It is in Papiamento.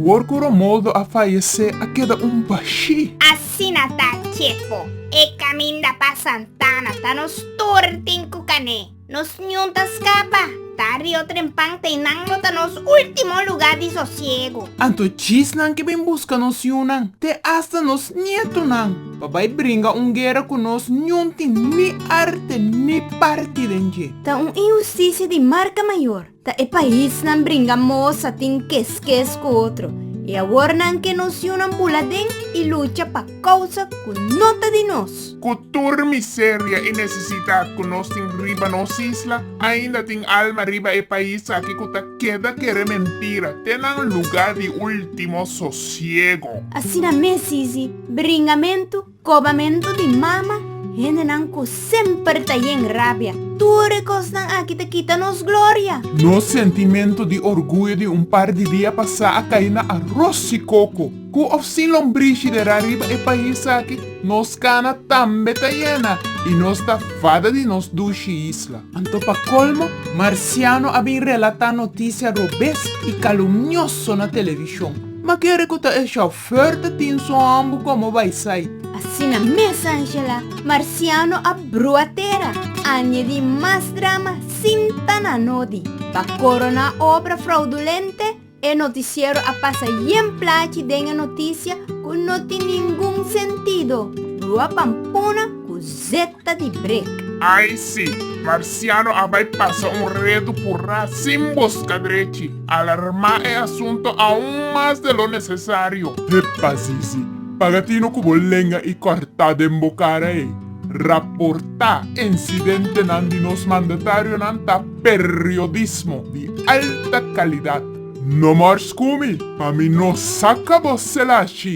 Awor cu Romualdo a fayecé a keda un bashí. Asina ta, Chepo. E caminda pa Santana ta nos tur tin cu cané. Nos niun ta scapa. Ta Rio Trempan te nan lo ta nos ultimo lugar di sosiego. Anto djisnan ke bin busca nos yunan, te hasta nos nietonan. Pa bai bringa un guera ku nos niun tin ni arte ni parti den dje. Ta un inhustisia di marka mayor. Ta e paisnan bringa mosa tin keskes ku otro i awor nan ke nos yunan bula den i lucha pa kousa ku no ta di nos. Ku tur miseria i nesesidat ku nos tin riba nos isla, ainda tin alma riba e pais aki ku ta keda kere mentira te nan luga di ultimo sosiego. Asina mes Sisi. Bringamentu, kobamentu di mama, hendenan ku semper ta yen rabia. Tur e kosnan aki ta kita nos gloria. Nos sentimentu di orguyo di un par di dia pasá a kai na aros i koko. Ku òf sin lombrishi dera riba e pais aki, nos kana tambe ta yena i nos ta fada di nos dushi isla. Anto pa kolmo, marsiano a bin relatá notisia robes i kalumnioso na televishon. Ma kere ku ta e shòf? Fuerte tin su hombo como bay sait. Asina mes Angela, marciano a brua tera, añedi mas drama sin ta na nodi. Pa corona obra fraudulente, e noticiero a pasa yen plachi den e noticia cu no tin ningun sentido, brua pampuna cu Z. ta di brek. Ai si, Marciano a bai pasa un redu purá sin buska drechi, alarmá e asunto aún mas de lo nesesario. Hepa Zizi, pagatino ku bo lenga i kòrtá den bo kara ei. Raportá insidentenan di nos mandatarionan ta periodismo di alta kalidat. No mòr skumi, pa mi no saka bo selachi!